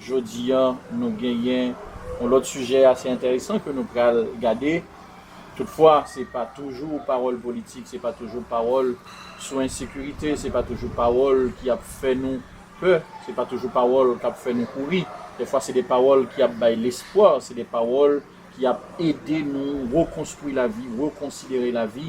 Jodi an nou genyen yon lòt sijè ase enteresan ke nou pral gade. Toutfwa, se pa toujou pawòl politik, se pa toujou pawòl sou ensekirite, se pa toujou pawòl ki ap fè nou pè, se pa toujou pawòl k ap fè nou kouri. Dèfwa se de pawòl ki ap bay lespwa, se de pawòl ki ap ede nou rekonstwi lavi, rekonsidere lavi.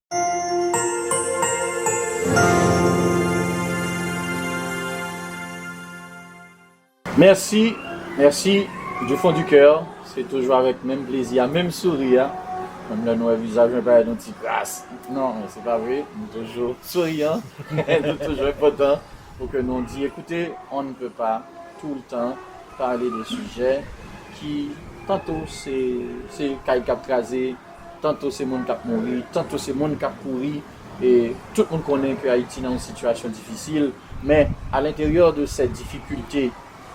Mèsi mèsi du fond du kè se toujou avèk menm plezi a menm souri a menm lè nou wè vizaj mwen parèt yon ti kras non men se pa vre nou toujou souriyan nou toujou enpòtan pou ke nou di ekoute on ne peut pas tout le temps parler de sujets ki tanto se kay kap kraze Tanto se moun kap mouri, tanto se moun kap kouri e tout moun konnen ke Ayiti nan yon sitiyasyon difisil men a l'interieur de cette difficulte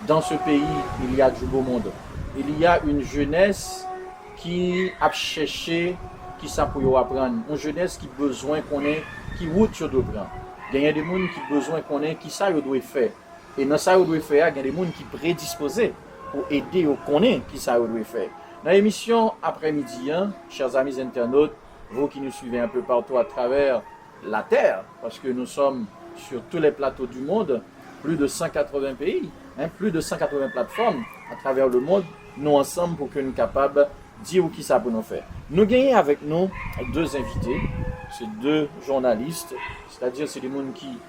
dans ce pays il y a du beau monde, il y a une jeunesse ki ap chèche kisa pou yo aprann, yon jeunesse ki bezwen konnen ki wout yo dwe pran, genyen de moun ki bezwen konnen kisa yo dwe fè. E nan sa yo dwe fè a, gen de moun ki predispoze pou ede yo konnen ki sa yo dwe fè. Nan emisyon aprè midi an, chers amis internautes, vous qui nous suivez un peu partout à travers la terre, parce que nous sommes sur tous les plateaux du monde, plus de 180 peyi, plus de 180 plateformes à travers le monde, nou ansanm pou ke nou kapab di ou ki sa pou nou fè. Nou genyen avèk nou 2 envite, se 2 journalistes, c'est-à-dire se de moun ki.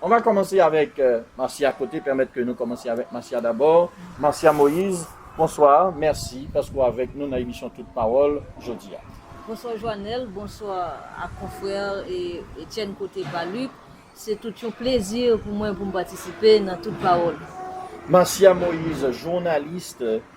On va commencer avec Marcia Cote permet ke nou komanse avèk Marcia dabò. Marcia Moïse, bonsoir, mèsi paske w avèk nou nan emisyon Tout Pawòl jodi a. Bonsoir Joanel, bonsoir ak konfrère Etienne Cote Paluc, se tout yon plezi pou mwen pou m patisipe nan Tout Pawòl. Marcia Moïse, journaliste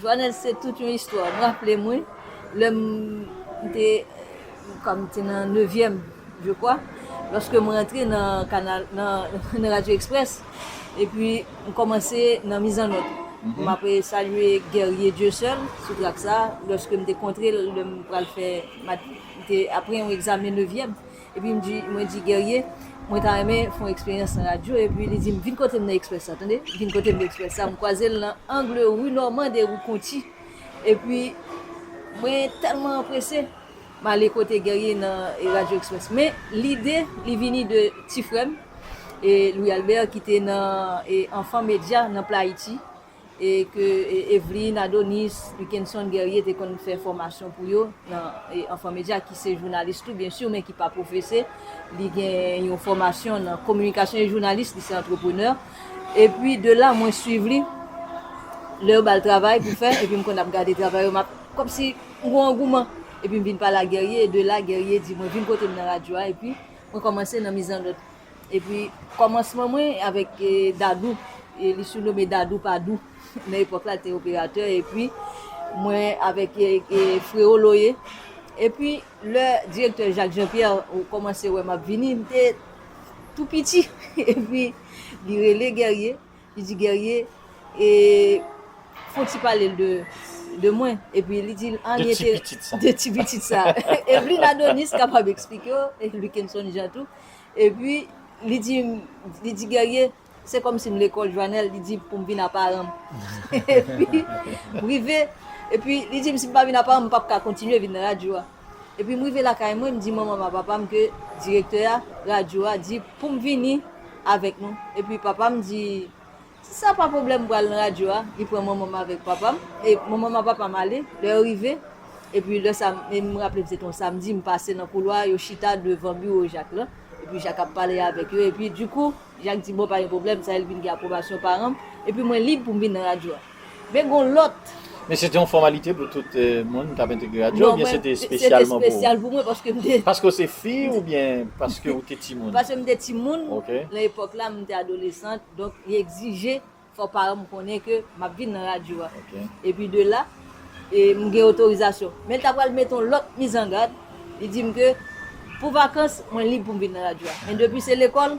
Joanel se tout yon istwa ou raplem wi lèm te kòm te nan nevyèm je kwa lòske mwen antre nan kanal nan radyo exprès epi m kòmanse nan mizannòt m ap salye Guerrier Dieuseul sou trak sa lòske m te kontrel lèm pral fè m te ap pran yon egzamen nevyèm Epi m di, mwen di Guerrier, mwen ta renmen fè yon eksperyans nan radyo, epi li di m, vin kote m nan Express la, tande, vin kote m nan Express la, m kwaze l nan angle rue Normand et rue Conty, epi mwen tèlman anprese, m ale kote Guerrier nan radyo Express, men lide li vini de ti frè m, Louis Albert ki te nan Enfants Médias nan Playiti. ke Evelyne Adonis, Wickenson Guerrier te konn fè fòmasyon pou yo nan Enfants Médias ki se jounalis tou byen sur men ki pa pwofese, li gen yon fòmasyon nan kominikasyon e jounalis, li se antreprenè. Epi de la mwen swiv li lè yo ba l travay pou fè epi m konn ap gade travay yo m ap kòmsi m gon angouman epi m vin pale ak Guerrier e de la Guerrier di mwen vin kote m nan radyo a epi mwen kòmanse nan mizanlòd Epi kòmansman mwen avèk Dadou, li surnome Dadou pa dou, nan epòk la li te operatè, epi mwen avèk Freo Loye. Epi lè direktè Jacques Jean Pierre kòmanse wè m ap vini, m te tou piti, epi li rele Guerrier, li di Guerrier fon ti pale l de mwen, epi li di l an li entere. De ti pitit sa. De ti pitit sa. Evelyne Adonis kapab eksplike w, Luckenson Jean tou. E pi, li di, li di Guerrier, se kòm si m lekòl, Joanel, li di pou m vin a paran m. E pi, m rive, e pi li di m si m pa vin a paran m, m p ap ka kontinye vin nan radyo a. E pi m rive lakay mwen, m di manman m ak papa m ke direktè a radyo a di pou m vini avèk nou. E pi papa m di. Si sa pa pwoblèm m pral nan radyo a, li pran manman m avèk papa m, e manman m ak papa m ale, lè yo rive, epi lè sa, e m raple m se te yon samdi, m pase nan koulwa a, yo chita devan biwo Jak lan, epi Jak ap pale avèk yo, epi dikou, Jak di bon pa gen pwoblèm, sa e l vin gen apwobasyon paran m, epi mwen lib pou m vin nan radyo a. Men gon lòt. Men se te yon fòmalite pou tout moun k ap entegre radyo oubyen se te espesyalman pou ou? Non, se te espesyal pou mwen paske m te. Paske w se fi oubyen paske ou te timoun? Paske m te timoun. Ok. Nan epòk la, m te adolesant, donk li egzije fò paran m konnen ke m ap vin nan radyo a. Ok. Epi de la, m gen otorizasyon. Men li ta pral mete yon lòt mizangad, li di m ke pou vakans, mwen lib pou m vin nan radyo a. Men depi se lekòl.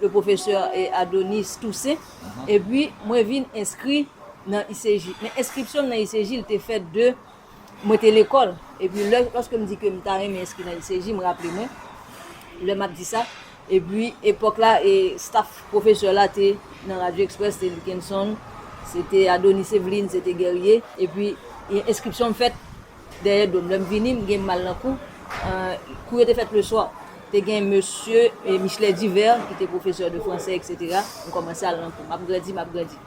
le professeur Adonis Toussaint, epi mwen vin enskri nan ICG. Men enskripsyon m nan ICG l te fèt de mwen te lekòl, epi lè, lòske m di ke m ta renmen enskri nan ICG, m raple mwen, lè m ap di sa, epi epòk la e staff professeur la te nan Radio Express, se Luckenson, se te Adonis Eveline, se te Guerrier, epi enskripsyon m fèt. Dèyè do m. Lè m vini, m gen mal nan kou. Kou yo te fèt leswa. Te gen mesye Michelet Divert ki te pwofesè de franse eksetera. M kòmanse al nan kou. M ap grandi, m ap grandi.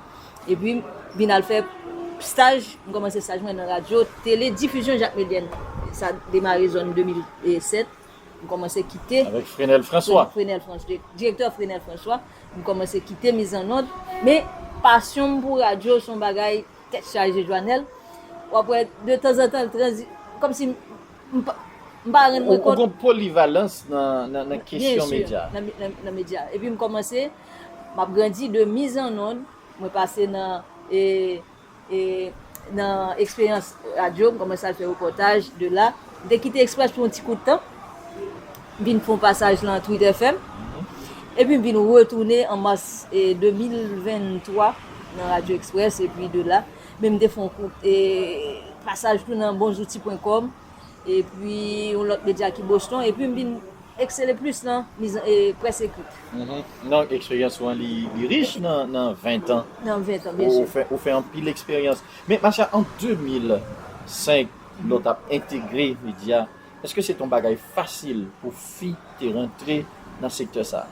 Epi, m vin al fè staj. M kòmanse staj mwen nan radyo tele difizyon Jacques Médienne. Sa demare zòn 2007. M kòmanse kite. Avèk Frenel Franswa. Frenel Franswa. Direktè Frenel Franswa. M kòmanse kite mizannòd. Men, pasyon m pou radyo se yon bagay. Tèt chaje Joanel, wap wè de tanzantan l tranzi, kòmsi m pa, m pa rann mwen kont. Ou gon polivalans nan kesyon medya. Byen si, nan medya. Epi m kòmanse, m ap grandi de miz an nonn, mwen pase nan e, e nan eksperyans radyo, m kòmanse al fè repòtaj, de la, m te kite Express pou yon ti kout tan. M vin fon pasaj lan Twitter FM, epi m vin retounen an Mars 2023 nan Radio Express epi de la men m te fon kout pasaj tou nan bonzouti.com epi yon lòt medya ki Boston epi m vin eksele plis nan près ekrit. Non eksperyans ou an li rich nan 20 tan. Nan 20 tan byen si. Ou fè anpil eksperyans. Men ma chè an 2005 lò tap entegre medya. Eske se te yon bagay fasil pou fi te rantre nan sektè sa?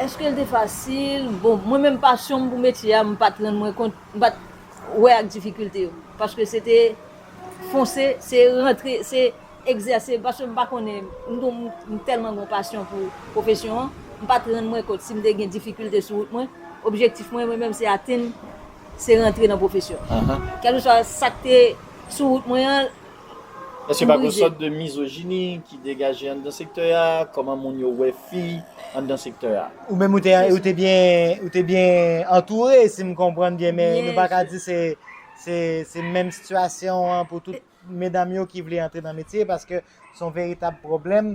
Eske l te fasil? Bon, mwen menm pasyon m pou metye a, m pa t rann mwen kont, m pa t wè ak difikilte yo. Paske se te fonse, se rantre, se egzèse. Paske m pa konnen, m gon, m tèlman gon pasyon pou pwofesyon an, m pa t rann mwen kont si m te gen difikilte sou wout mwen. Objektif mwen, mwen menm, se atenn, se rantre nan pwofesyon an. Kèlkeswa sa k te sou wout mwen an. Èske pa gon sòt de mizojini ki degaje anndan sektè a? Kòman moun yo wè fi anndan sektè a? Ou menm ou te byen ou te byen antoure si m konprann byen men nou pa ka di se se menm sitiyasyon an pou tout medam yo ki vle antre nan metye paske son veritab pwoblèm.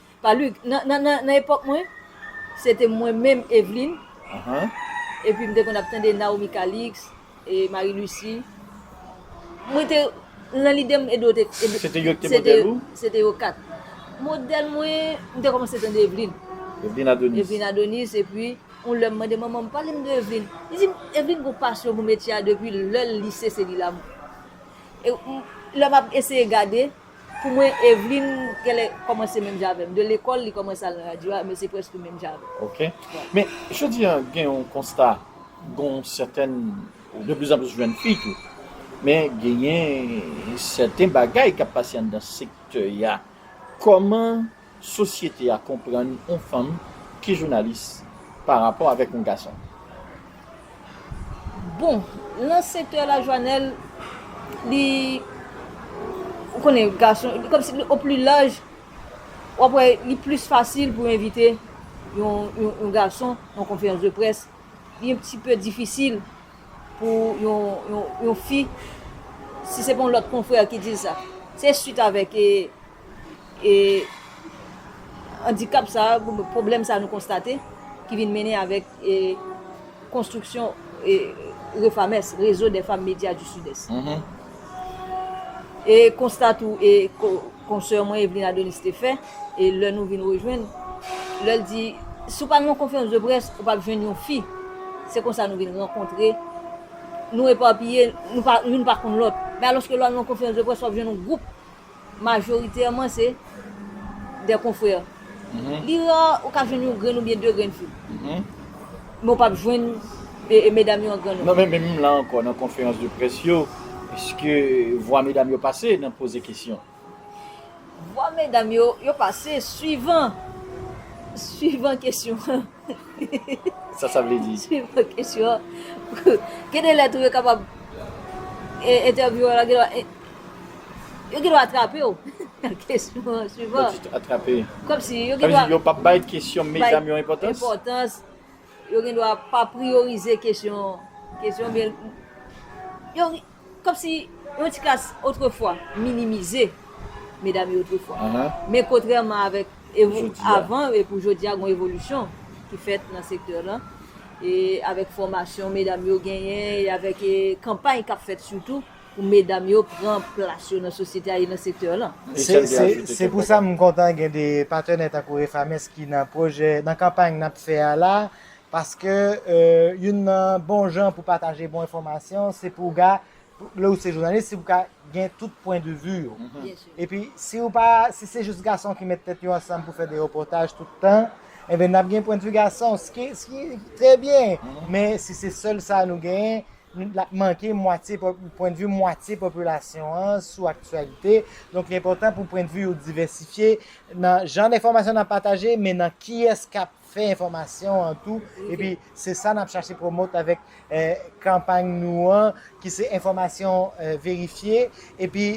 Palud, Nan, nan, nan, nan epòk mwen, se te mwen menm Evlin, epi m te konn ap tande Naomi Calix, e Marie Lucie. Mwen te, nan lide m Edo te, Edo, Se te yo ki te modèl ou? Se te yo kat. Modèl mwen, m te kòmanse tande Evlin. Evlin Adonis. Evlin Adonis, epi, yon lè m mande manman m, pale m de Evlin. Li di m, Evlin gon pasyon pou metye a depi lè l lise se li la. E, lè m ap eseye gade. Pou mwen Evelyne genlè kòmanse menm jan avèm de lekòl li kòmanse al nan radyo a men se prèske menm jan avèm. Ok men jodi an gen yon konsta gon sètèn de pli zan plis jèn fi tou men genyen sèten bagay kap pase anndan sektè ya kòman Sosyete a konprann on fanm ki jounalis pa rapò avèk on gason. Bon, lan sektè la Joanel, li, ou konnen gason, kòm si o pli laj, w ap wè li plis fasil pou envite yon, yon gason nan on konferans de près. Li on ti pe difisil pou yon, yon, yon fi, si se pa on lòt konfrè ki di l sa. Se swit avèk e. e andikap sa, pwoblèm sa nou konstate ki vin mennen avèk konstriksyon Refames, Réseau des Femmes Médias du Sud-Est. E konsta tou e konsè mwen Evelyne Adonis te fè, e lè nou vin rejwenn, lè l di, si w pa nan yon konferans de près, ou pa p jwenn yon fi. Se konsa nou vin rankontre, nou epapiye, youn pa konn lòt. Men alòske lè w al nan yon konferans de près, w ap jwenn yon gwoup. Majoritèman se dè konfrè. Li ra ou ka jwenn yon grenn oubyen 2 grenn fi. Men ou pap jwenn medam yo an grann non. Non men menm la ankò nan konferans de près yo, eske vwa medam yo pase nan poze kesyon? Vwa medam yo, yo pase swivan, swivan kesyon an. Sa sa vle di? Swivan kesyon an, gen de lè tou yo kapab entèvyouwe w la, gen dwa, yo gen dwa atrape w nan kesyon an. Swivan. Lè w di atrape? Kòmsi yo gen dwa. Sa vle di yo pa bay kesyon medam yo enpòtans? Bay enpòtans. Yo gen dwa pa priyorize kesyon, kesyon oubyen yo. Kòmsi yon ti klas otrefwa minimize medam yo otrefwa. Men kontrèman avèk avan e pou jodi a gon evolisyon ki fèt nan sektè lan e avèk fòmasyon medam yo genyen e avèk kanpay k ap fèt sitou pou medam yo pran plas yo nan sosyete a e nan sektè lan. Se pou sa m kontan gen de patenè tankou Refames ki nan pwojè, nan kanpay n ap fè a la Paske youn nan bon jan pou pataje bon enfòmasyon se pou w ka, lè ou se jounalis, se pou w ka gen tout pwen de vi yo. Epi si ou pa, si se jis gason ki met tèt yo ansanm pou fè de repòtaj tout tan, enben n ap gen pwen de vi gason, s ki trè byen. Men si se sèl sa nou genyen, l ap manke mwatye, pwen de vi mwatye popilasyon an sou aktyalite. Donk li enpòtan pou pwen de vi yo divèsifye nan jan de enfòmasyon n ap pataje, men nan kiyès k ap fè enfòmasyon an tou epi se sa nap chache promote avèk kanpay nou an ki se enfòmasyon verifye epi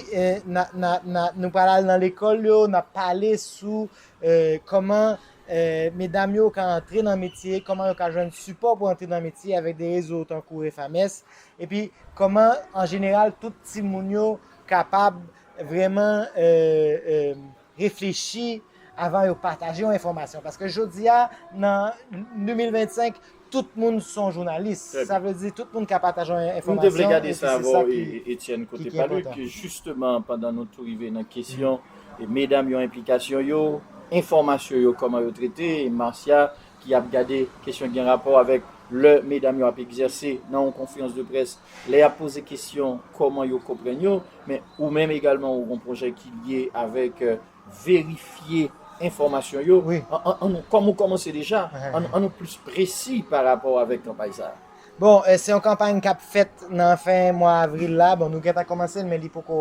nou pral al nan lekòl yo nap pale sou kòman medam yo ka antre nan metye kòman yo ka jwenn sipò pou antre nan metye avèk de rezo tankou refames epi kòman an jeneral tout timoun yo kapab vrèman. reflechi avan yo pataje yon enfòmasyon paske jodi a nan 2025 tout moun son jounalis sa vle di tout moun ka pataje yon enfòmasyon e se sa ki ki ki enpòtan. Jisteman pandan nou tou rive nan kesyon medam yo enplikasyon yo, enfòmasyon yo kòman yo trete, Marcia ki ap gade kesyon gen rapò avèk lè medam yo ap egzèse nan yon konferans de près, lè y ap poze kesyon kòman yo konprann yo, men ou menm egalman ou gen yon pwojè ki lye avèk verifye enfòmasyon yo, kòm ou kòmanse deja, an nou plis presi pa rapò avèk kanpay sa a? Bon, se yon kanpay k ap fèt nan fen mwa avril la, bon nou gentan kòmanse l men li poko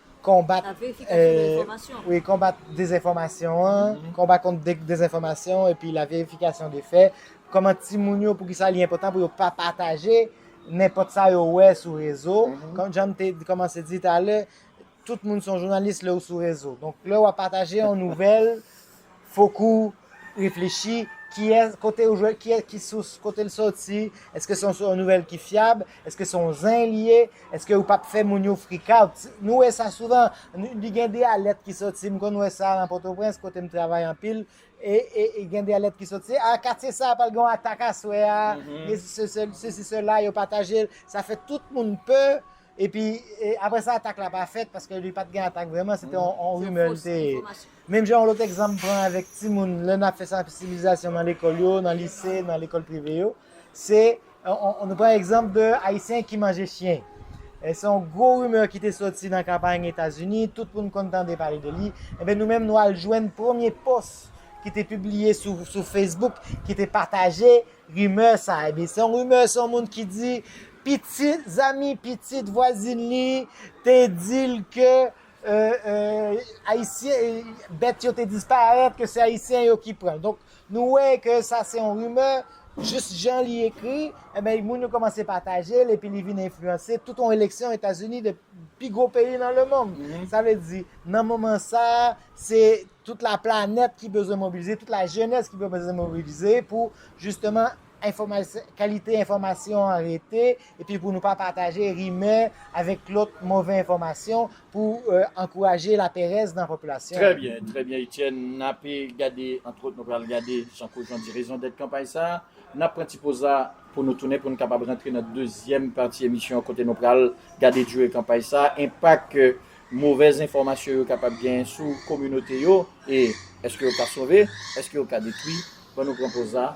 konbat dezenfòmasyon an, konbat kont dezenfòmasyon epi la verifikasyon de fè, kòman ti moun yo pou ki sa li enpòtan pou yo pa pataje nenpòt sa yo wè sou rezo, kòm jan m te kòmanse di talè, tout moun son jounalis lè ou sou rezo, donk lè w ap pataje yon nouvèl, Fokou reflechi, kiyès, kote ou jwenn, kiyès, ki sous, kote l sòti, èske se yon nouvèl ki fyab, èske se yon zen li ye, èske ou pap fè moun yo frikout. Nou wè sa souvan, li gen de alèt ki sòti, m konn wè sa nan Pòtoprens kote m travay anpil, e gen de alèt ki sòti, a katye sa a pral gen yon atak aswè a, sesi sela, yo pataje l, sa fè tout moun pè, epi apre sa atak la pa fèt paske li pat gen atak vrèman, se te yon rimè li te ye. Menm jan yon lòt egzanp m pran avèk timoun lè n ap fè sansibilizasyon nan lekòl yo, nan lise, nan lekòl prive yo, se nou pran egzanp de Ayisyen ki manje chyen. Se yon gwo rimè ki te soti nan kanpay Etazini, tout moun konn tande pale de li. Enben nou menm nou al jwenn premye pòs ki te pibliye sou Facebook ki te pataje rimè sa. Enben se yon rimè, se yon moun ki di pitit, zanmi pitit vwazin li te di l ke Ayisyen bèt yo te disparèt ke se ayisyen yo ki pran donk nou wè ke sa se yon rimè jis jan li ekri ebyen eh moun yo kòmanse pataje l epi li vin enfliyanse tout yon eleksyon etazini de pi gwo peyi nan lemonn sa vle di nan moman sa se tout la planèt ki bezwen mobilize tout la jenès ki bezwen mobilize pou jisteman Kalite enfòmasyon an rete epi pou nou pa pataje rimè avèk lòt move enfòmasyon pou ankouraje laperèz nan popilasyon an. Trè byen, trè byen Etienne. N ape gade, antwòt nou pral gade, jan Claude Jean di, rezondèt kanpay sa a. N ap pran ti poz la pou nou tounen pou n kapab rantre nan dezyèm pati emisyon an kote nou pral gade dire kanpay sa a, enpak movèz enfòmasyon yo kapab genyen sou kominote yo e èske yo ka sove, èske yo ka detwi. Ban nou pran poz la.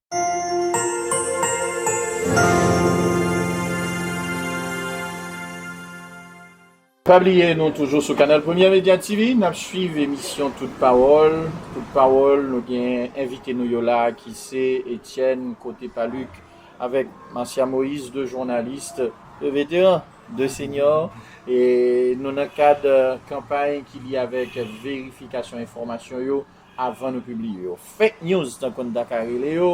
Pa bliye nou toujou sou kanal Premyè Media TV, n ap swiv emisyon Tout Pawòl. Tout Pawòl, nou gen envite nou yo la ki se Etyèn Cote Paluc avèk Marcia Moïse, 2 jounalis, 2 veteran, 2 senyò. E nou nan kad kanpay ki lye avèk verifikasyon enfòmasyon yo. avan nou pibliye yo. Fake news tan konn ta ka rele yo,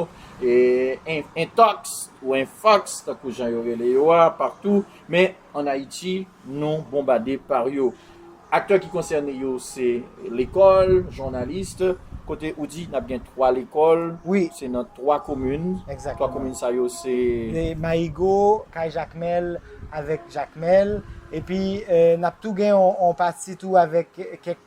intox ou infox tankou jan yo rele yo a partou, men an Ayiti nou bonbade par yo. Aktè ki konsène yo se lekòl, journaliste, kote ou di nap gen 3 lekòl, se nan 3 komin, 3 komin sa yo se. Mayigo, Kay Jakmèl avèk Jakmèl, epi nap tou gen yon pati tou avèk kèk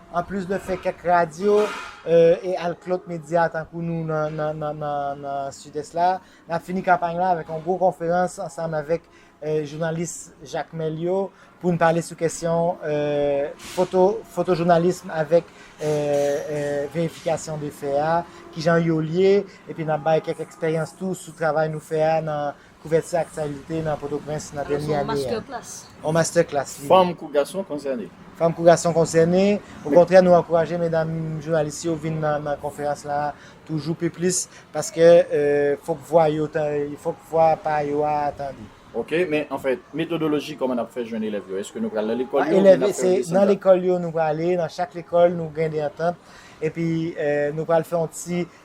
Anplis de fè kèk radyo e al klot medya tankou nou nan Sidès la, n ap fini kanpay la avèk yon gwo konferans ansanm avèk jounalis Jakmèl yo pou n pale sou kesyon fotojounalism avèk verifikasyon de fè a, kijan yo lye, epi n ap bay kèk eksperyans tou sou travay nou fè a nan Kouvèti aktyalite nan Pòtoprens nan dènye ane a. On masterclass li ye. Fanm kou gason konsène. Fanm kou gason konsène. Okontrè nou ankouraje medam jounalis yo vin nan konferans la toujou pi plis paske fòk vwa yo fòk vwa pa yo a tande. Ok, men anfèt metodoloji kòman nap fè jwenn elèv yo? Eske nou pral nan lekòl yo oubyen nap fè yo desann la? Nan lekòl yo nou prale, nan chak lekòl nou gen de antant epi nou pral fè yon ti.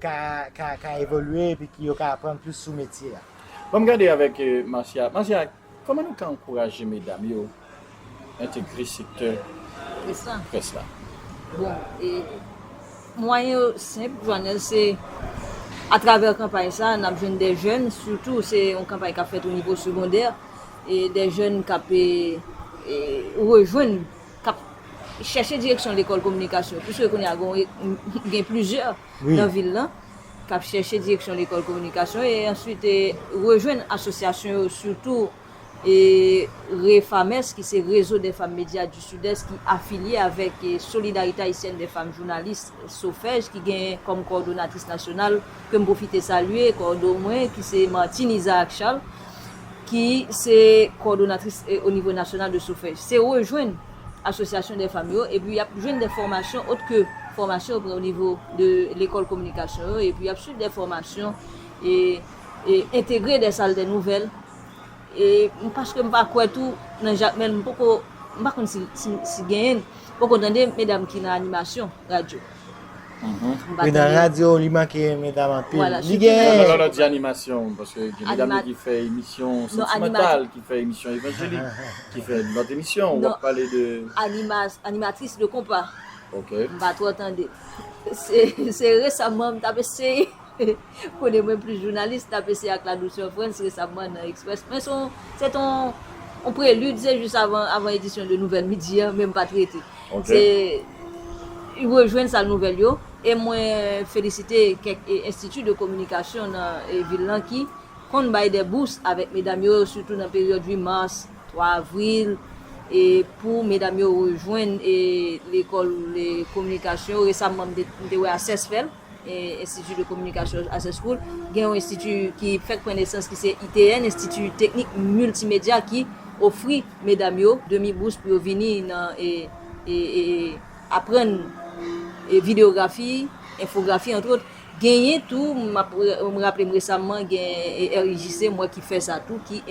ka evolye epi ki yo ka aprann plis sou metye a. Bon m gade avèk Marcia. Marcia, kòman nou ka ankouraje medam yo entegre sektè près la? Bon, mwayen yo senp Joanel, se atravè kanpay sa a n ap jwenn de jèn, sitou se yon kanpay k ap fèt onivo segondè, de jèn k ap rejwenn k ap chèche direksyon lekòl kominikasyon yo, piske kounye a gen plizyè nan vil la k ap chèche direksyon lekòl kominikasyon yo e answit rejwenn asosyasyon yo sitou REFAMES ki se Réseau des Femmes Médias du Sud-Est ki afilye avèk Solidarité Haïtienne des Femmes Journalistes, Sofej, ki gen kòm kowòdonatris nasyonal, ke m pwofite salye, kowòdo mwen ki se Martine Isaac Charles. ki se kòdonatris o nivo nasyonal de Sofej, se rejwenn asosyasyon dè fanm yo epi y ap jwenn dè fòmasyon ot ke fòmasyon yo pran o nivo de lekòl kominikasyon yo epi y ap swiv dè fòmasyon e entegre dè sal dè nouvèl e paske m pa kwè tou nan Jakmèl m poko m pa konn si genyen m poko tande medam ki nan animasyon radyo. Mwen pa tande yo. Wala, chou ki nan radyo li manke anpil. Animatris de konpa. Mwen pa twò tande. Se resaman mwen t ap eseye. Kode mwen plis jounalis nap ese ak la dousè Frantz resamman nan Express men son se ton on prelude se jis avan avan edisyon de nouvèl midi an men m pa trete se y rejwenn sal nouvèl yo e mwen felisite kèk enstiti de kominikasyon nan vil lan ki konn bay dè bous avèk medam yo sitou nan peryòd 8 mars 3 avril e pou medam yo rejwenn e lekòl kominikasyon resamman m te wè ases fèl. Institut de Communication Access School, gen yon enstiti ki fèk pran nesans ki se ITN, Enstiti Teknik Miltimedya ki ofri medam yo demi bous pou yo vini nan aprann videyografi, enfografi antwot. Genyen tou, m raple m resamman gen RIJC m wè ki fè sa tou ki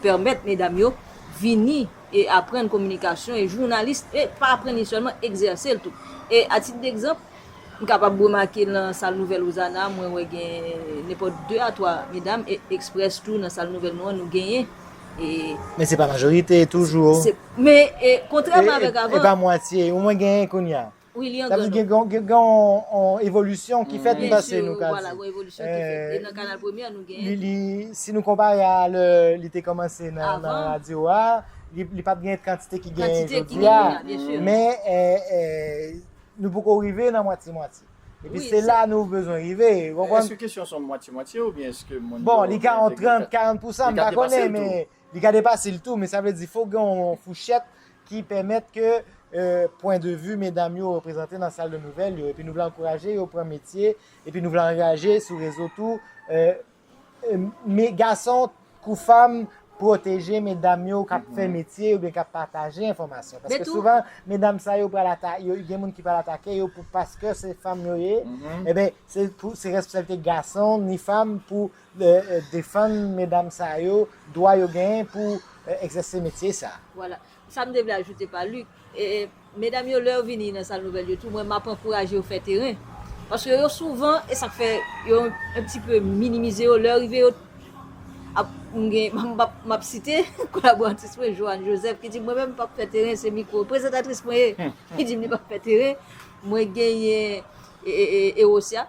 pèmèt medam yo vini e aprann kominikasyon e jounalis e pa aprann li sèlman, egzèse l tou. E a tit degzanp, M kapab remake nan sal nouvèl Ozana mwen wè gen nenpòt 2 a 3 medam e Express tou nan sal nouvèl nou an nou genyen e. Men se pa majorite toujou. Se, men e kontrèman avèk avan. E pa mwatye, ou mwen genyen kounye a. Wi li an gran nonb. Sa vle di gen yon evolisyon ki fèt nan pase nou ka di. Byensi, vwala gen yon evolisyon ki fèt. E nan kanal premye a nou genyen. Li, si nou konpare a lè li te kòmanse nan radyo a, li pa t gen kantite ki genyen jodi a. Kantite ki genyen jodi a, byensi. Men e, Nou poko rive nan mwatye mwatye. Epi se la nou bezwen rive. Eske kesyon son mwatye mwatye ou byen eske moun yo. Bon li ka yon 30, 40 pousan m pa konnen men li ka depase l tou men sa vle di fok gen yon fouchèt ki pèmèt ke pwen de vi medam yo reprezante nan sal de nouvèl yo epi nou vle ankouraje yo pran metye epi nou vle anraje sou rezo tou Me gason kou fanm pwoteje medam yo kap fè metye oubyen kap pataje enfòmasyon. Paske Betou. souvan medam sa yo pral ata, yo gen moun ki pral atake yo pou paske se fanm yo ye. Eben se pou se responsabilite gason ni fanm pou eh, eh, defann medam sa yo, dwa yo genyen pou eh, egzèse metye sa. Vwala. Sa m te vle ajoute pa Luc, medam yo lè yo vini nan sal nouvèl yo tou mwen map ankouraje yo fè teren paske yo souvan e sak fè yo un pti peu minimize yo lè yo rive yo ap m gen map site kolaboratris mwen Johanne Joseph ki di mwen menm m pap fè teren se mikwo prezantatris mwen ye ki di m li pap fè teren mwen genyen Erosia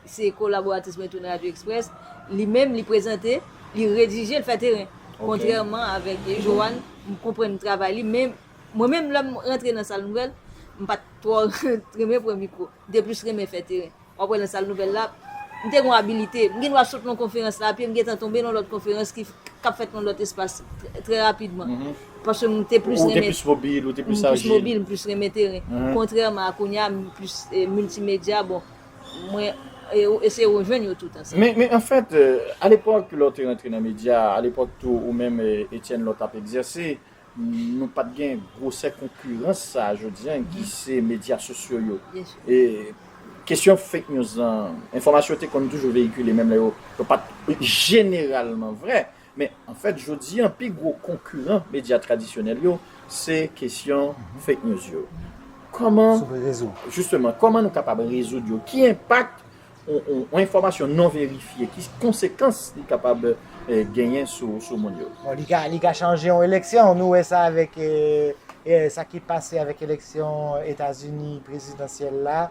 Se kolaboratris mwen tou nan Radyo Express. Li menm, li prezante, li redije, li fè teren. Kontrèman avèk Johann, m konprann travay li, men mwen menm lè m rantre nan sal nouvèl, m pa t twò renmen pran mikwo. M te plis renmen fè teren. W ap wè nan sal nouvèl la, m te gen yon abilite. M gen dwa sot nan yon konferans la, pye m gentan tonbe nan yon lòt konferans ki ap fèt nan yon lòt espas trè rapidman. Paske m te plis renmen. Ou te plis mobil, ou te plis ajil. M plis mobil, m plis renmen teren. Kontrèman a kounye a, m plis miltimedya. Bon. Mwen e ou eseye rejwenn yo tout ansanm. Men an fèt, alepòk lè w te rantre nan medya, alepòk tou ou menm Etienne lè w t ap egzèse, nou pa t gen gwosè konkirans sa a jodi an ki se medya sosyo yo. E kesyon fake news lan, enfòmasyon te konn toujou veyikile menm lè yo pa t jeneralman vrè. Men, anfèt, jodi a, pi gwo konkiran medya tradisyonèl yo, se kesyon fake news yo. Kòman, jisteman, kòman nou kapab rezoud yo? Ki enpak yon enfòmasyon non verifye, ki konsekans li kapab genyen sou moun yo? Bon, li ka chanje yon eleksyon. Nou wè sa avèk sa ki pase avèk eleksyon Etazini prezidansyèl la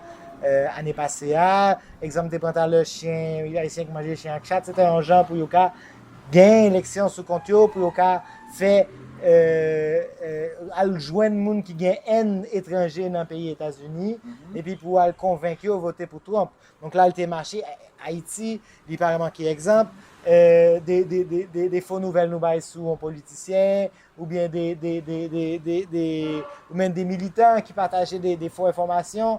ane pase a. Egzanp m te pran talè, chen, Ayisyen ki manje chen ak chat, se te yon jan pou yo ka Genyen eleksyon sou kont yo pou yo ka fè al jwenn moun ki gen èn etranje nan peyi Etazini epi pou al konvenk yo vote pou Trump. Donk la li te mache Ayiti, li pa manke egzanp de fo nouvèl nou bay sou yon politisyen oubyen de militan ki pataje de fo enfòmasyon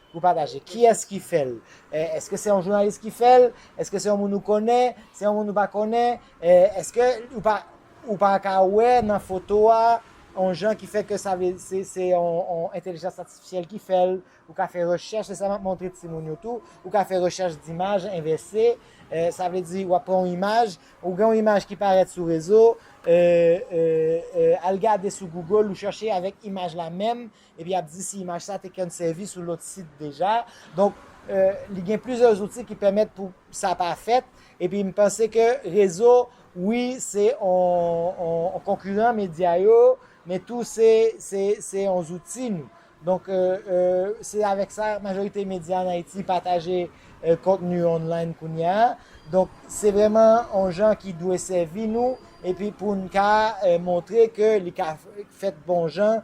Pou pataje. Kiyès ki fè l? Èske se yon jounalis ki fè l? Èske se yon moun ou konnen? Se yon moun ou pa konnen? Èske ou pa ka wè nan foto a yon jan ki fè ke sa vle se yon entelijans atifisyèl ki fè l? Ou ka fè rechèch, se sa m ap montre timoun yo tou. Ou ka fè rechèch dimaj envèse. Sa vle di w ap pran yon imaj, ou gen yon imaj ki parèt sou rezo, al gade sou Google, ou chèche avèk imaj la menm, Epi y ap di si imaj sa te kèn sèvi sou lòt sit deja. Donk, li gen plizyè zouti ki pèmèt pou sa pa fèt. Epi m panse ke rezo, wi, se yon konkiran medya yo, men tou se yon zouti nou. Donk, se avèk sa majorite medya an Ayiti pataje kontni online kounye a. Donk, se vrèman yon jan ki dwe sèvi nou epi pou n ka montre ke li ka fèt bon jan.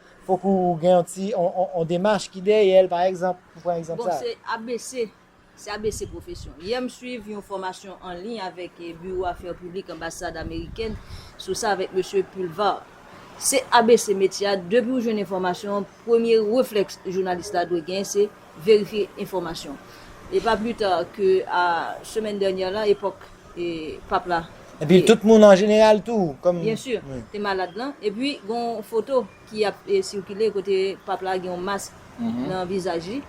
Fok ou gen yon ti yon demach ki dèyèl pa egzanp pou pran egzanp sa. Bon se abc se abc pwofesyon. Yè m swiv yon fòmasyon an liy avèk Biwo Afè Piblik Anbasad Amerikèn sou sa avèk Mesye Pulvar. Se abc metye a depi ou jwenn enfòmasyon an premye reflèks jounalis la dwe gen se verifye enfòmasyon. E pa pli ta ke a semèn dènyè la, epòk Pap la te. Epi tout moun an jeneral tou, kòm. Byen si, te malad lan. Epi gen yon foto ki ap sikile kote Pap la gen yon mask nan vizaj li.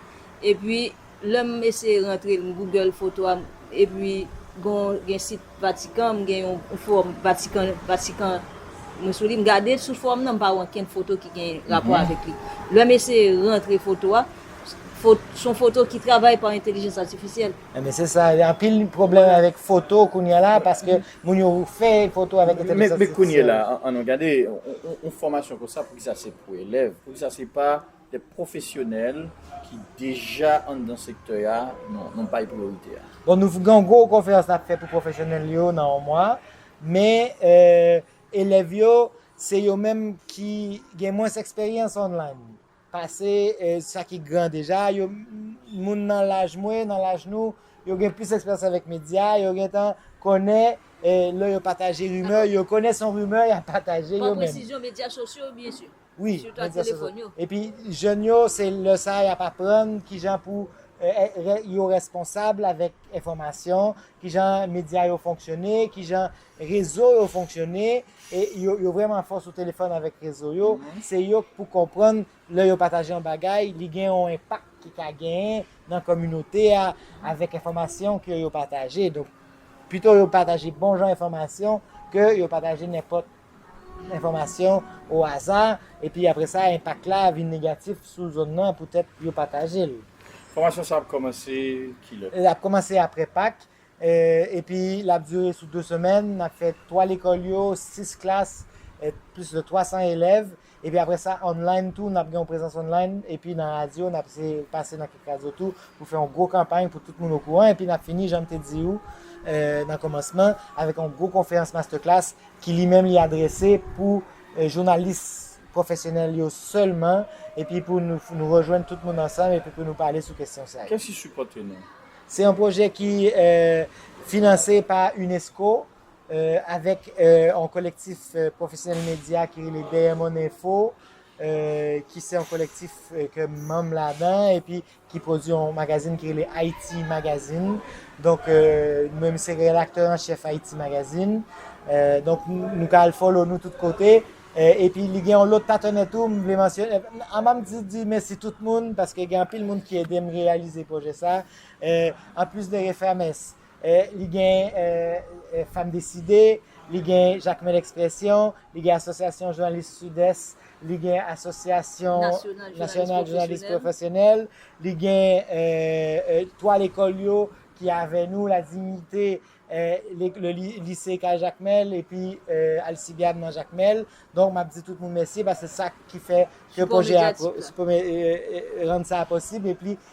Epi lè m eseye rantre, m google foto a, epi gen yon sit. Vatican m gen yon forum vatican vatican mwen sou li m gade sou forum nan m pa wè ankenn foto ki gen rapò avèk li lè m eseye rantre foto a son foto ki travay pa entelijans atifisyèl. Ebyen se sa gen anpil pwoblèm avèk foto kounya la paske moun yo fè foto avèk entelijans atifisyèl. Men kounyela an nou gade yon fòmasyon konsa poukisa se pou elèv poukisa se pa Dè pwofesyonèl ki deja anndan sektè a nou bay priyorite a. Bon nou gen yon gwo konferans n ap fè pou pwofesyonèl yo nan yon mwa, men elèv yo se yo menm ki gen mwens eksperyans online pase sa ki gran deja, moun nan laj mwen, nan laj nou, yo gen plis eksperyans avèk medya, yo gen tan konnen lè yo pataje rimè, yo konnen se yon rimè y ap pataje yo menm. Pran presizyon medya sosyo byen si. Wi, men di se sou. Epi jèn yo se lè sa y ap aprann kijan pou yo responsab avèk enfòmasyon, kijan medya yo fonksyone, kijan rezo yo fonksyone, e yo vrèman fò sou telefòn avèk rezo yo, se yo k pou konprann lè yo pataje yon bagay li gen yon enpak ki ka genyen nan kominote a avèk enfòmasyon ke yo pataje. Donk pito yo pataje bon jan enfòmasyon ke yo pataje nenpòt. enfòmasyon o aza epi apre sa enpak la vin negatif sou zòn nan poutèt yo pataje l. Fòmasyon sa ap kòmanse kilè? L ap kòmanse apre Pak, epi l ap dire sou 2 semèn. N ap fè 3 lekòl yo, 6 klas, plis de 300 elèv. Epi apre sa, online tou, n ap gen yon prezans online, epi nan radyo, n ap se pase nan kèk radyo tou, pou fè yon gwo kanpay pou tout moun okouran, epi n ap fini, jan m te di ou nan kòmansman, avèk yon gwo konferans masterclass ki li menm li adrese pou jounalis pwofesyonèl yo sèlman, epi pou nou rejwenn tout moun ansanm epi pou nou pale sou kesyon sa yo. Kèsi sipòte nou? Se yon pwojè ki finanse pa unesco, avèk yon kolektif pwofesyonèl medya ki rele Dèyè Mòn Enfo, ki se yon kolektif ke m manm ladan, epi ki pwodui yon magazin ki rele Ayiti Magazin. Donk, mwen m se redaktè an chèf Ayiti Magazin. Donk, nou ka al follow nou tout kote. Epi li gen yon lòt patenè tou m vle mansyone. Anvan m di di mèsi tout moun, paske gen anpil moun ki ede m reyalize pwojè sa. Anplis de Refames, Li gen Fèm Deside, li gen Jakmèl Ekspresyon, li gen Asosyasyon Jounalis Sidès, li gen Asosyasyon Nasyonal Jounalis Pwofesyonèl, li gen 3 lekòl yo ki avè nou, La Dignité, Lise Kay Jakmèl epi Alsibiad nan Jakmèl. Donk m ap di tout moun mèsi paske se sa ki fè ke pwojè a, ki rann sa posib epi.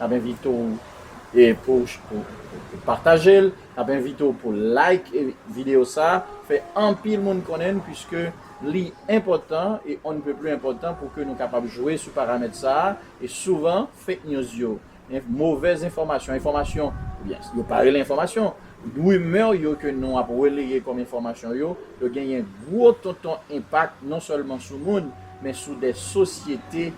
Nap envite w pou w pataje l, nap envite w pou w like videyo sa, fè anpil moun konnen l puiske li enpòtan e on ne peut plus enpòtan pou ke nou kapab jwe sou paramèt sa e souvan fake news yo, movèz enfòmasyon, enfòmasyon oubyen yo pa rele enfòmasyon, rumè yo ke nou ap releye kòm enfòmasyon yo, yo genyen gwo tonton enpak non sèlman sou moun men sou de sosyete